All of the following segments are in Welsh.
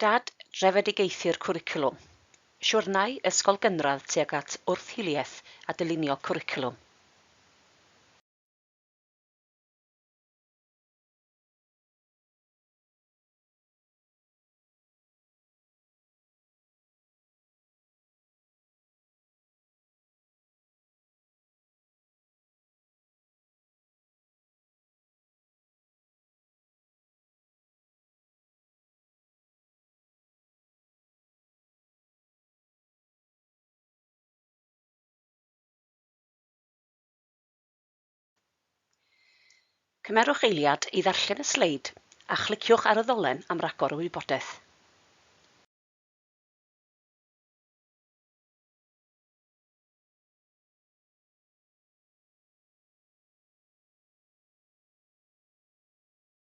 Dad, drefedigaethu'r cwricwlwm. Siwrnai ysgol gynradd tuag at wrth-hiliaeth a dylunio cwricwlwm. Cymerwch eiliad i ddarllen y sleid a chliciwch ar y ddolen am ragor o wybodaeth.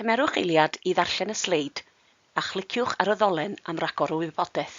Cymerwch eiliad i ddarllen y sleid a chliciwch ar y ddolen am ragor o wybodaeth.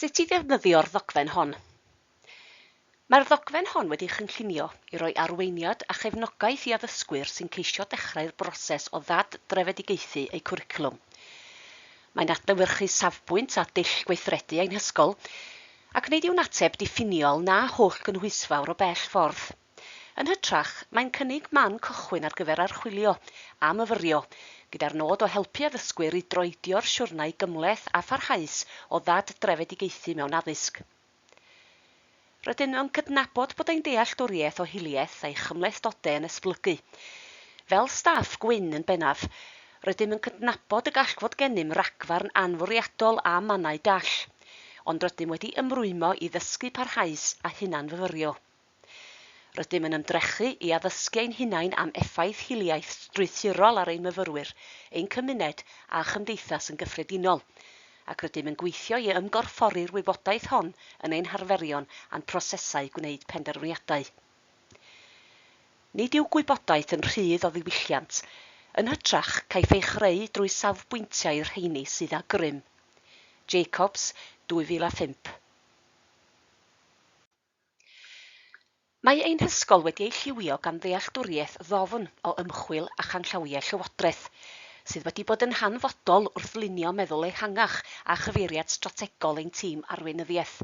Sut i ddefnyddio'r ddogfen hon. Mae'r ddogfen hon wedi'i chynllunio i roi arweiniad a chefnogaeth i addysgwyr sy'n ceisio dechrau'r broses o ddad-drefedigaethu eu cwricwlwm. Mae'n adlewyrchu safbwynt a dull gweithredu ein hysgol, Ac nid yw'n ateb diffiniol na hollgynhwysfawr o bell ffordd. Yn hytrach, mae'n cynnig man cychwyn ar gyfer archwilio a myfyrio, gyda'r nod o helpu addysgwyr i droedio'r siwrnai gymhleth a pharhaus o ddad-drefedigaethu mewn addysg. Rydym yn cydnabod bod ein dealltwriaeth o hiliaeth a'i chymhlethdodau yn esblygu. Fel staff gwyn yn bennaf, rydym yn cydnabod y gall fod gennym ragfarn anfwriadol a mannau dall. ond rydym wedi ymrwymo i ddysgu parhaus a hunanfyfyrio. Rydym yn ymdrechu i addysgu ein hunain am effaith hiliaeth strwythurol ar ein myfyrwyr, ein cymuned a chymdeithas yn gyffredinol, ac rydym yn gweithio i ymgorffori'r wybodaeth hon yn ein harferion a'n prosesau gwneud penderfyniadau. Nid yw gwybodaeth yn rhydd o ddiwylliant. Yn hytrach, caiff ei chreu drwy safbwyntiau rheini sydd â grym. Jacobs, 2005. Mae ein hysgol wedi ei lliwio gan ddealltwriaeth ddofn o ymchwil a chanllawiau llywodraeth, sydd wedi bod yn hanfodol wrth lunio meddwl ehangach a chyfeiriad strategol ein tîm arweinyddiaeth.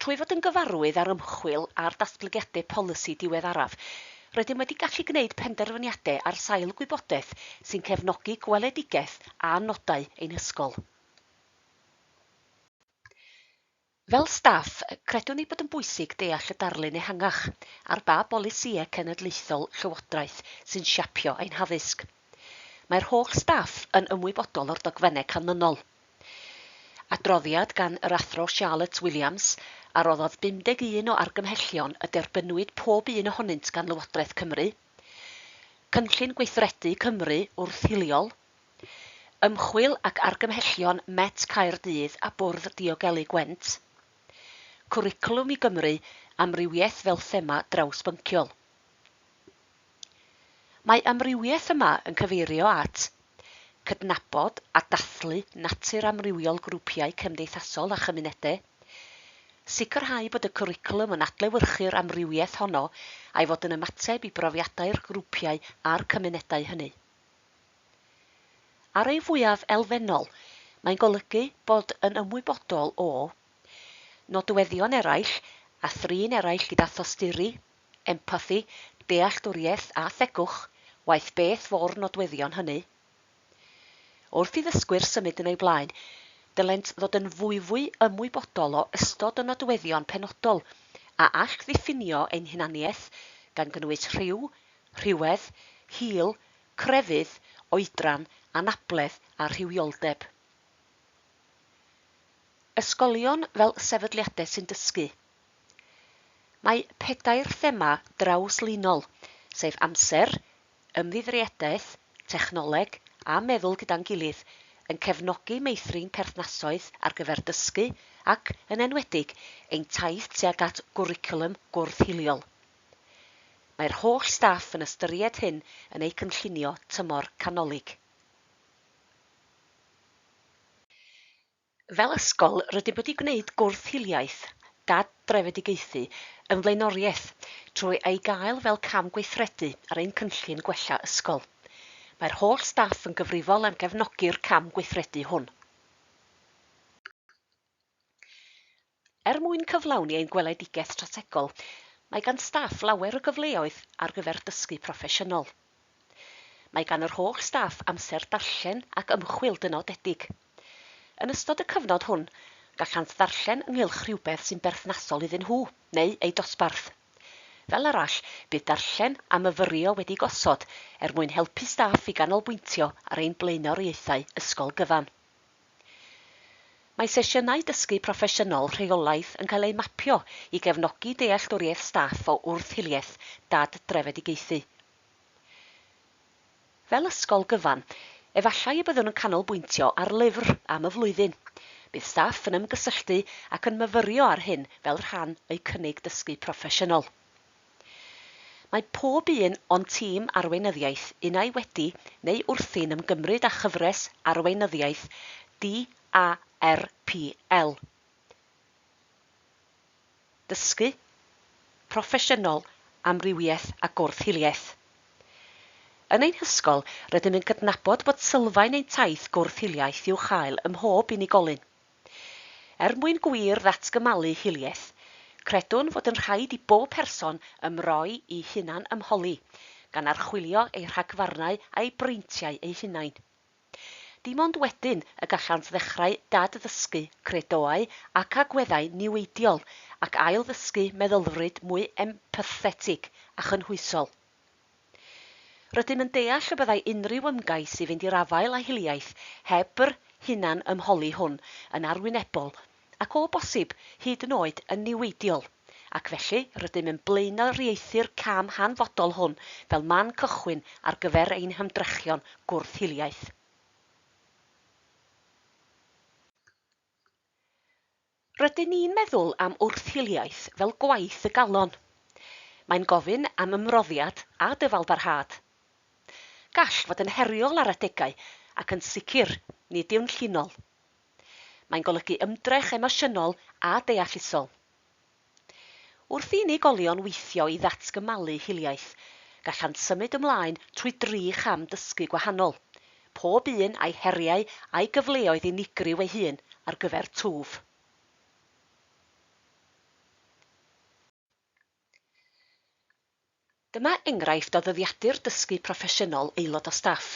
Trwy fod yn gyfarwydd â'r ymchwil a'r datblygiadau polisi diweddaraf, rydym wedi gallu gwneud penderfyniadau ar sail gwybodaeth sy'n cefnogi gweledigaeth a nodau ein hysgol. Fel staff, credwn ei bod yn bwysig deall y darlun ehangach ar ba bolisïau cenedlaethol Llywodraeth sy'n siapio ein haddysg. Mae'r holl staff yn ymwybodol o'r dogfennau canlynol. Adroddiad gan yr Athro Charlotte Williams a roddodd 51 o argymhellion y derbynnwyd pob un ohonynt gan Lywodraeth Cymru, Cynllun Gweithredu Cymru wrth Hiliol, Ymchwil ac Argymhellion Met Caerdydd a Bwrdd Diogelu Gwent, Cwricwlwm i Gymru, Amrywiaeth fel thema drawsbynciol. Mae amrywiaeth yma yn cyfeirio at, cydnabod a dathlu natur amrywiol grwpiau cymdeithasol a chymunedau, sicrhau bod y cwricwlwm yn adlewyrchu'r amrywiaeth honno a'i fod yn ymateb i brofiadau'r grwpiau a'r cymunedau hynny. Ar ei fwyaf elfennol, mae'n golygu bod yn ymwybodol o, nodweddion eraill a thrin eraill gyda thosturi, empathi, dealltwriaeth a thegwch, waeth beth fo'r nodweddion hynny. Wrth i ddysgwyr symud yn eu blaen, dylent ddod yn fwyfwy ymwybodol o ystod o nodweddion penodol a all ddiffinio ein hunaniaeth, gan gynnwys rhyw, rhywedd, hil, crefydd, oedran, anabledd a rhywioldeb. Ysgolion fel sefydliadau sy'n dysgu, Mae pedair thema drawslinol, sef amser, ymddiddriadaeth, technoleg a meddwl gyda'n gilydd, yn cefnogi meithrin perthnasoedd ar gyfer dysgu ac, yn enwedig, ein taith tuag at gwricwlwm gwrth-hiliol. Mae'r holl staff yn ystyried hyn yn eu cynllunio tymor canolig. Fel ysgol, rydym wedi gwneud gwrth hiliaeth gad drefedigaethu yn flaenoriaeth trwy ei gael fel cam gweithredu ar ein cynllun gwella ysgol. Mae'r holl staff yn gyfrifol am gefnogi'r cam gweithredu hwn. Er mwyn cyflawni ein gweledigaeth strategol, mae gan staff lawer o gyfleoedd ar gyfer dysgu proffesiynol. Mae gan yr holl staff amser darllen ac ymchwil dynodedig. Yn ystod y cyfnod hwn, gallant ddarllen ynghylch rhywbeth sy'n berthnasol iddyn nhw neu eu dosbarth. Fel arall, bydd darllen a myfyrio wedi gosod er mwyn helpu staff i ganolbwyntio ar ein blaenoriaethau ysgol gyfan. Mae sesiynau dysgu proffesiynol rheolaidd yn cael eu mapio i gefnogi dealltwriaeth staff o wrth-hiliaeth dad-drefedigaethu. Fel ysgol gyfan, efallai y byddwn yn canolbwyntio ar lyfr am y flwyddyn. Bydd staff yn ymgysylltu ac yn myfyrio ar hyn fel rhan o'u cynnig dysgu proffesiynol. Mae pob un o'n tîm arweinyddiaeth unai wedi neu wrthi'n ymgymryd â chyfres arweinyddiaeth DARPL, Dysgu, Proffesiynol, Amrywiaeth a Gwrth Hiliaeth. Yn ein hysgol, rydym yn cydnabod bod sylfaen ein taith gwrth hiliaeth i'w chael ym mhob unigolyn. Er mwyn gwir ddatgymalu hiliaeth, credwn fod yn rhaid i bob person ymroi i hunan-ymholi, gan archwilio eu rhagfarnau a'u breintiau eu hunain. Dim ond wedyn y gallant ddechrau dad-ddysgu credoau ac agweddau niweidiol ac ail-ddysgu meddylfryd mwy empathetig a chynhwysol. Rydym yn deall y byddai unrhyw ymgais i fynd i'r afael â hiliaeth heb yr hunanymholi hwn yn arwynebol, ac o bosib, hyd yn oed yn niweidiol, ac felly rydym yn blaenoriaethu'r cam hanfodol hwn fel man cychwyn ar gyfer ein hymdrechion gwrth-hiliaeth. Rydyn ni'n meddwl am wrth-hiliaeth fel gwaith y galon. Mae'n gofyn am ymroddiad a dyfalbarhad. Gall fod yn heriol ar adegau ac yn sicr nid yw'n llinol. Mae'n golygu ymdrech emosiynol a deallusol. Wrth i unigolion weithio i ddatgymalu hiliaeth, gallant symud ymlaen trwy dri cham dysgu gwahanol, pob un â'i heriau a'i gyfleoedd unigryw ei hun ar gyfer twf. Dyma enghraifft o ddyddiadur dysgu proffesiynol aelod o staff.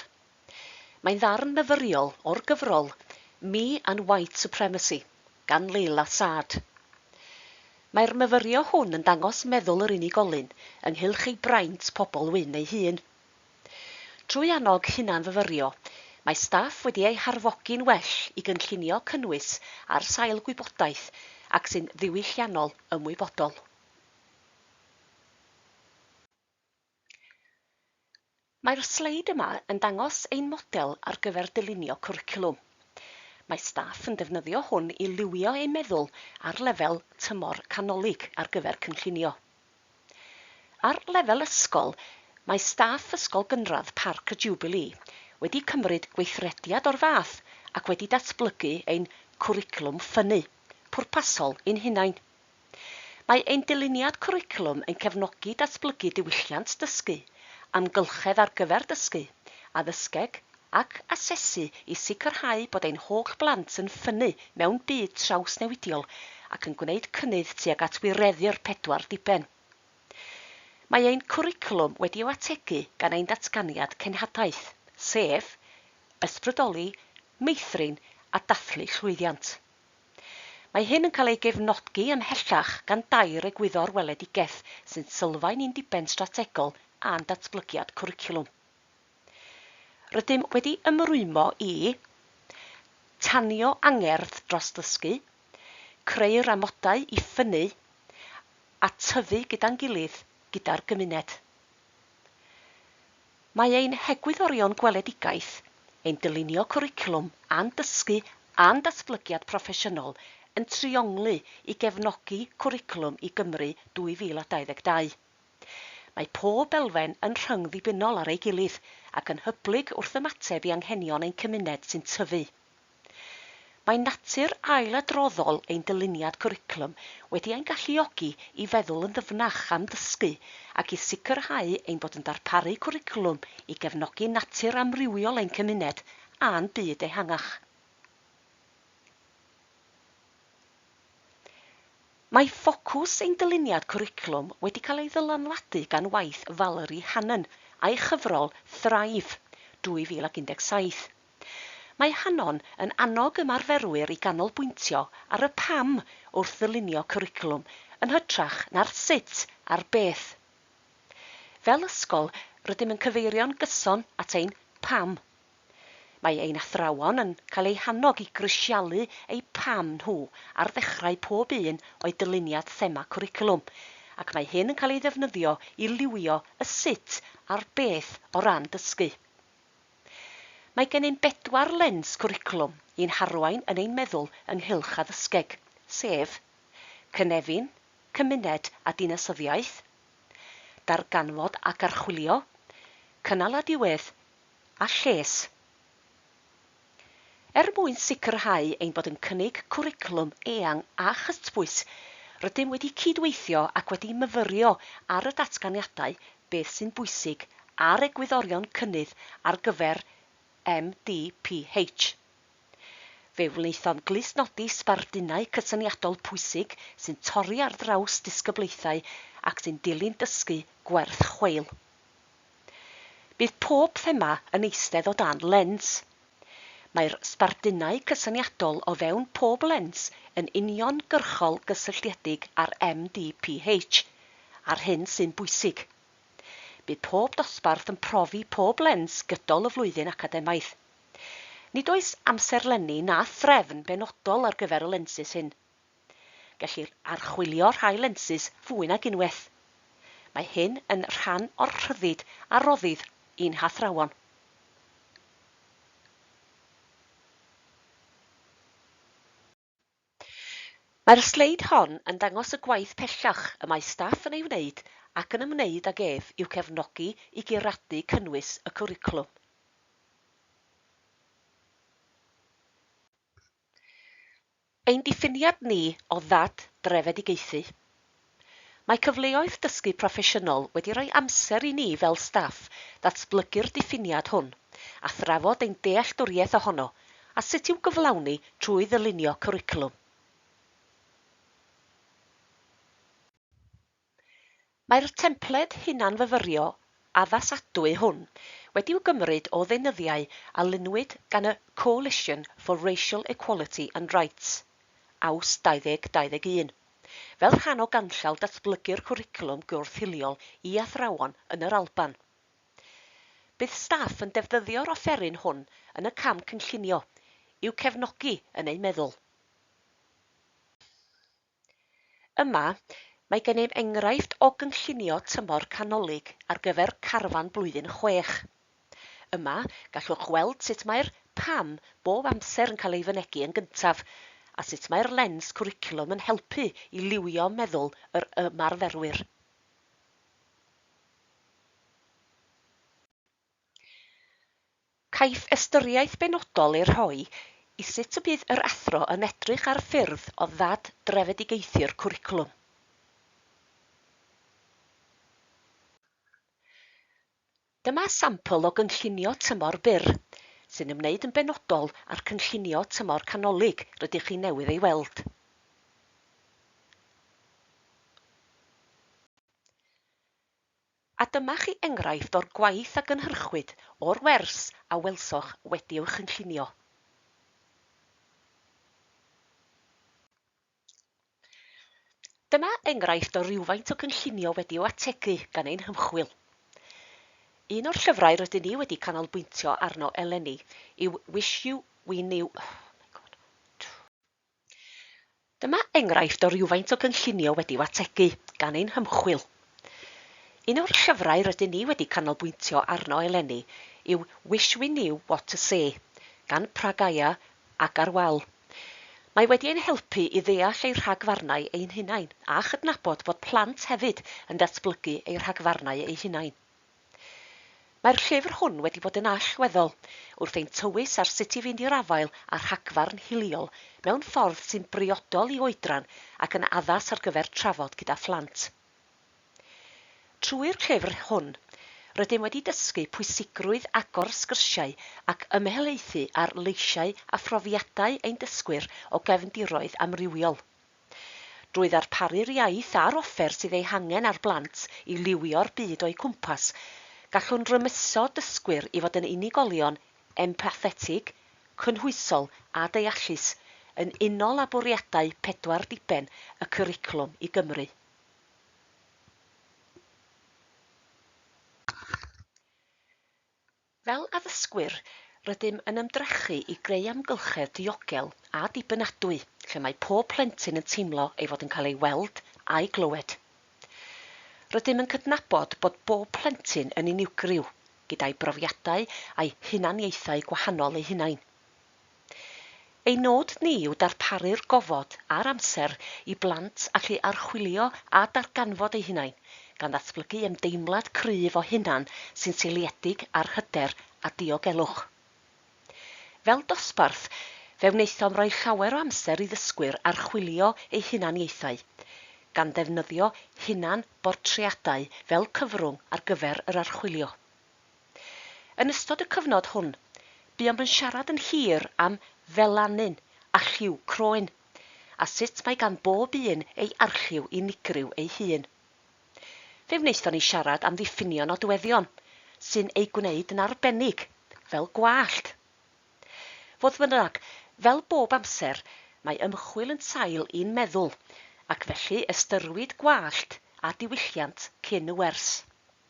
Mae'n ddarn myfyriol o'r gyfrol Me and White Supremacy gan Leila Saad. Mae'r myfyrio hwn yn dangos meddwl yr unigolyn ynghylch ei braint pobl wyn ei hun. Trwy annog hunanfyfyrio, mae staff wedi eu harfogi'n well i gynllunio cynnwys ar sail gwybodaeth ac sy'n ddiwylliannol ymwybodol. Mae'r sleid yma yn dangos ein model ar gyfer dylunio cwricwlwm. Mae staff yn defnyddio hwn i liwio eu meddwl ar lefel tymor canolig ar gyfer cynllunio. Ar lefel ysgol, mae staff Ysgol Gynradd Parc y Jiwbilî wedi cymryd gweithrediad o'r fath ac wedi datblygu ein Cwricwlwm Ffynnu pwrpasol ein hunain. Mae ein dyluniad cwricwlwm yn cefnogi datblygu diwylliant dysgu, amgylchedd ar gyfer dysgu, addysgeg ac asesu i sicrhau bod ein holl blant yn ffynnu mewn byd trawsnewidiol ac yn gwneud cynnydd tuag at wireddu'r pedwar diben. Mae ein cwricwlwm wedi i'w ategu gan ein Datganiad Cenhadaeth, sef, Ysbrydoli, Meithrin a Dathlu Llwyddiant. Mae hyn yn cael ei gefnodgi ymhellach gan dair egwyddor weledigaeth sy'n sylfaen i'n diben strategol a'n datblygiad cwricwlwm. Rydym wedi ymrwymo i, Tanio angerdd dros ddysgu, Creu'r amodau i ffynnu, a Tyfu gyda'n gilydd gyda'r gymuned. Mae ein hegwyddorion gweledigaeth, ein dylunio cwricwlwm a'n dysgu a'n datblygiad proffesiynol yn trionglu i gefnogi Cwricwlwm i Gymru 2022. Mae pob elfen yn rhyngddibynnol ar ei gilydd ac yn hyblyg wrth ymateb i anghenion ein cymuned sy'n tyfu. Mae natur ailadroddol ein dyluniad cwricwlwm wedi ein galluogi i feddwl yn ddyfnach am ddysgu ac i sicrhau ein bod yn darparu cwricwlwm i gefnogi natur amrywiol ein cymuned a'n byd ehangach. Mae ffocws ein dyluniad cwricwlwm wedi cael ei ddylanwadu gan waith Valerie Hannon a'i chyfrol Thrive, 2017. Mae Hannon yn annog ymarferwyr i ganolbwyntio ar y pam wrth ddylunio cwricwlwm yn hytrach na'r sut a'r beth. Fel ysgol, rydym yn cyfeirio'n gyson at ein pam. Mae ein athrawon yn cael eu hannog i grisialu eu pam nhw ar ddechrau pob un o'u dyluniad thema cwricwlwm, ac mae hyn yn cael ei ddefnyddio i liwio y sut a'r beth o ran dysgu. Mae gennym bedwar lens cwricwlwm i'n harwain yn ein meddwl ynghylch addysgeg, sef, cynefin, cymuned a dinasyddiaeth, darganfod ac archwilio, cynnal a diwedd, a lles. Er mwyn sicrhau ein bod yn cynnig cwricwlwm eang a chytbwys, rydym wedi cyd-weithio ac wedi myfyrio ar y datganiadau, beth sy'n bwysig, a'r egwyddorion cynnydd ar gyfer MDPH. Fe wnaethom glustnodi sbardunau cysyniadol pwysig sy'n torri ar draws disgyblaethau ac sy'n dilyn dysgu gwerth chweil. Bydd pob thema yn eistedd o dan lens. Mae'r sbardunau cysyniadol o fewn pob lens yn uniongyrchol gysylltiedig â'r MDPH a'r hyn sy'n bwysig. Bydd pob dosbarth yn profi pob lens gydol y flwyddyn academaidd. Nid oes amserlenni na threfn benodol ar gyfer y lensys hyn. Gellir archwilio rhai lensys fwy nag unwaith. Mae hyn yn rhan o'r rhyddid a roddir i'n hathrawon. Mae'r sleid hon yn dangos y gwaith pellach y mae staff yn ei wneud ac yn ymwneud ag ef i'w cefnogi i guradu cynnwys y cwricwlwm. Ein diffiniad ni o ddad drefedigaethu. Mae cyfleoedd dysgu proffesiynol wedi rhoi amser i ni fel staff ddatblygu'r diffiniad hwn a thrafod ein dealltwriaeth ohono a sut i'w gyflawni trwy ddylunio cwricwlwm. Mae'r templed hunanfyfyrio addasadwy hwn wedi'w gymryd o ddeunyddiau a lunwyd gan y Coalition for Racial Equality and Rights, Aws 2021, fel rhan o ganllaw datblygu'r cwricwlwm gwrth-hiliol i athrawon yn yr Alban. Bydd staff yn defnyddio'r offeryn hwn yn y cam cynllunio, i'w cefnogi yn eu meddwl. Yma, mae gennym enghraifft o gynllunio tymor canolig ar gyfer carfan blwyddyn chwech. Yma, gallwch weld sut mae'r 'pam' bob amser yn cael ei fynegi yn gyntaf, a sut mae'r lens cwricwlwm yn helpu i liwio meddwl yr ymarferwyr. Caiff ystyriaeth benodol ei rhoi i sut y bydd yr athro yn edrych ar ffyrdd o ddad-drefedigaethu'r cwricwlwm. Dyma sampl o gynllunio tymor byr, sy'n ymwneud yn benodol â'r cynllunio tymor canolig rydych chi newydd ei weld. A dyma chi enghraifft o'r gwaith a gynhyrchwyd o'r wers a welsoch wedi i'w chynllunio. Dyma enghraifft o rywfaint o gynllunio wedi i'w ategu gan ein hymchwil. Un o'r llyfrau rydyn ni wedi canolbwyntio arno eleni yw Wish You We Knew Dyma enghraifft o rywfaint o gynllunio wedi'w ategu gan ein hymchwil. Un o'r llyfrau rydyn ni wedi canolbwyntio arno eleni yw Wish We Knew What to Say gan Pragaya Agarwal. Mae wedi ein helpu i ddeall ei rhagfarnau ein hunain a chydnabod bod plant hefyd yn datblygu eu rhagfarnau eu hunain. Mae'r llyfr hwn wedi bod yn allweddol wrth ein tywys ar sut i fynd i'r afael â rhagfarn hiliol mewn ffordd sy'n briodol i oedran ac yn addas ar gyfer trafod gyda phlant. Trwy'r llyfr hwn, rydym wedi dysgu pwysigrwydd agor sgyrsiau ac ymhelaethu ar leisiau a phrofiadau ein dysgwyr o gefndiroedd amrywiol. Drwy ddarparu'r iaith a'r offer sydd ei hangen ar blant i liwio'r byd o'u cwmpas, gallwn rymuso dysgwyr i fod yn unigolion empathetig, cynhwysol a deallus, yn unol â bwriadau pedwar diben y Cwricwlwm i Gymru. Fel addysgwyr, rydym yn ymdrechu i greu amgylchedd diogel a dibynadwy lle mae pob plentyn yn teimlo ei fod yn cael ei weld a'i glywed. Rydym yn cydnabod bod bob plentyn yn unigryw, gyda'i brofiadau a'i hunaniaethau gwahanol eu hunain. Ein nod ni yw darparu'r gofod a'r amser i blant allu archwilio a darganfod eu hunain, gan ddatblygu ymdeimlad cryf o hunan sy'n seiliedig ar hyder a diogelwch. Fel dosbarth, fe wnaethom roi llawer o amser i ddysgwyr archwilio eu hunaniaethau, gan ddefnyddio hunan-bortreadau fel cyfrwng ar gyfer yr archwilio. Yn ystod y cyfnod hwn, buom yn siarad yn hir am felanyn a lliw croen, a sut mae gan bob un ei arlliw unigryw ei hun. Fe wnaethon ni siarad am ddiffinio nodweddion sy'n ei gwneud yn arbennig, fel gwallt. Fodd bynnag, fel bob amser, mae ymchwil yn sail i'n meddwl, ac felly ystyrwyd gwallt a diwylliant cyn y wers.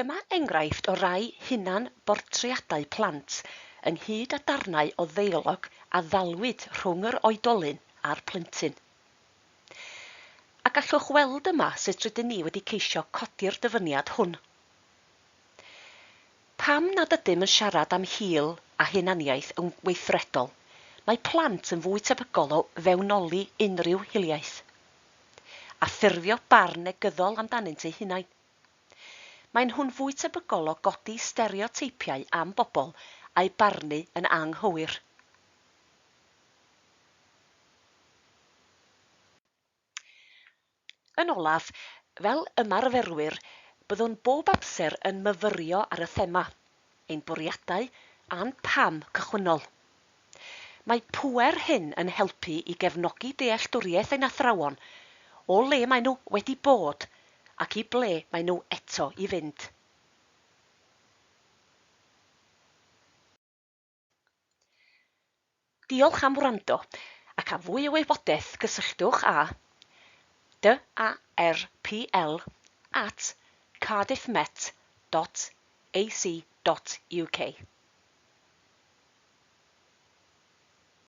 Dyma enghraifft o rai hunan-bortreadau plant, ynghyd â darnau o ddeialog a ddalwyd rhwng yr oedolyn a'r plentyn. A gallwch weld yma sut rydyn ni wedi ceisio codi'r dyfyniad hwn. Pam nad ydym yn siarad am hil a hunaniaeth yn weithredol, mae plant yn fwy tebygol o fewnoli unrhyw hiliaeth, a ffurfio barn negyddol amdanynt eu hunain. Maen nhw'n fwy tebygol o godi stereoteipiau am bobl a'u barnu yn anghywir. Yn olaf, fel ymarferwyr, byddwn bob amser yn myfyrio ar y thema, ein bwriadau a'n pam cychwynnol. Mae pŵer hyn yn helpu i gefnogi dealltwriaeth ein athrawon o le maen nhw wedi bod ac i ble maen nhw eto i fynd. Diolch am wrando, ac am fwy o wybodaeth cysylltwch â DARPL at cardiffmet.ac.uk.